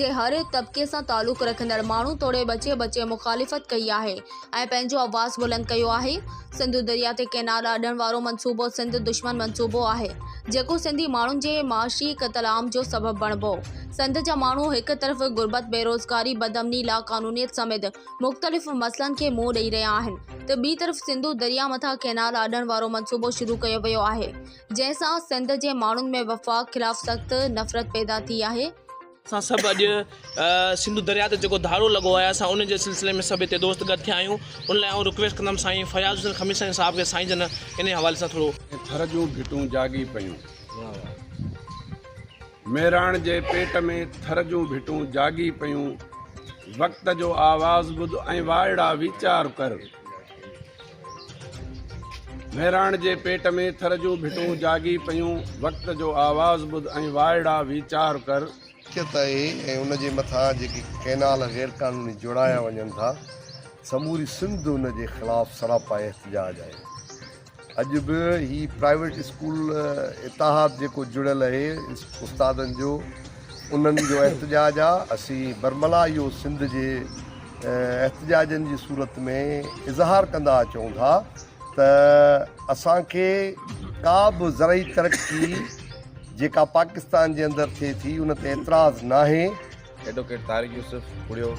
جي هر طبقي سان تعلق رکندڙ ماڻهن توڙي ٻچي ٻچي مخالفت ڪئي آهي ۽ پنهنجو آواز بلند ڪيو آهي سنڌو دريا تي ڪئنال اڏڻ وارو منصوبو سنڌ دشمن منصوبو آهي جيڪو سنڌي ماڻهن جي معاشي قتل عام جو سبب بڻبو سنڌ جا ماڻهو هڪ طرف غربت بيروزگاري بدامني لاقانونيت سميت مختلف مسئلن کي منهن ڏئي رهيا آهن ته ٻي طرف سنڌو دريا مٿان ڪئنال اڏڻ وارو منصوبو شروع ڪيو ويو آهي جنهن سان سنڌ جي ماڻهن ۾ وفاق خلاف سخت نفرت پيدا ٿي آهي. اسان سڀ اڄ سنڌو درياء تي جيڪو ڌاڙو لڳو آهي اسان ان جي سلسلي ۾ سڀ هتي دوست گڏ ٿيا آهيون ان لاء آئون رڪويسٽ ڪندم سائين فياض حسين خميسائين صاحب کي سائين جن انهي حوالي سان ٿورو ٿر جون ڀٽون جاڳي پيون. ميراڻ جي پيٽ ۾ ٿر جون ڀٽون جاڳي پيون وقت جو آواز ٻڌ ۽ وائڙا ويچار ڪر. مهراڻ جي پيٽ ۾ ٿر جون ڀٽون جاڳي پيون، وقت جو آواز ٻڌ ۽ وائڙا ويچار ڪر. ملڪيت آهي ۽ ان جي مٿان جيڪي ڪئنال غير قانوني جوڙايا وڃن ٿا سموري سنڌ ان جي خلاف سراپا احتجاج آهي اڄ به هي پرائيويٽ اسڪول اتحاد جيڪو جڙيل اهي استادن جو انهن جو احتجاج آ اسين برملا اهو سنڌ جي احتجاجن جي صورت ۾ اظهار ڪندا اچون ٿا ته اسان کي ڪا به زرعي ترقي جيڪا پاڪستان جي اندر ٿئي ٿي ان تي اعتراض ناهي ايڊووڪيٽ طارق يوسف پڙهيو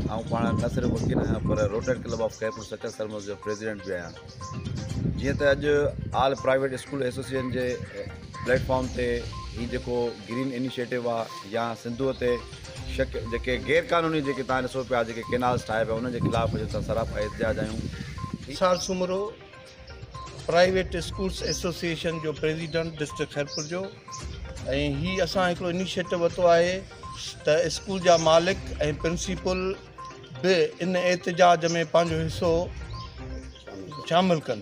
آئون پاڻ نه صرف وڪيل آهيان پر rotary club of Khairpur Sukkur Sarmast جو پريزيڊنٽ به آهيان جيئن ته اڄ آل پرائيويٽ اسڪول ايسوسيئن جي پليٽ فارم تي هي جيڪو گرين انيشيٽو آ يا سنڌو تي شڪ جيڪي غير قانوني جيڪي تان ڏسو پيا جيڪي ڪينالز ٺاهي پيا ان جي خلاف اڄ اسان سراپا احتجاج آيون سال سومرو پرائيويٽ اسڪولس ايسوسيئن جو پريزيڊنٽ ڊسٽرڪٽ خيرپور جو ۽ هي اسان هڪڙو انيشيٽو وتو آهي ته اسڪول جا مالڪ ۽ پرنسيپل به ان احتجاج ۾ پنهنجو حصو شامل ڪن.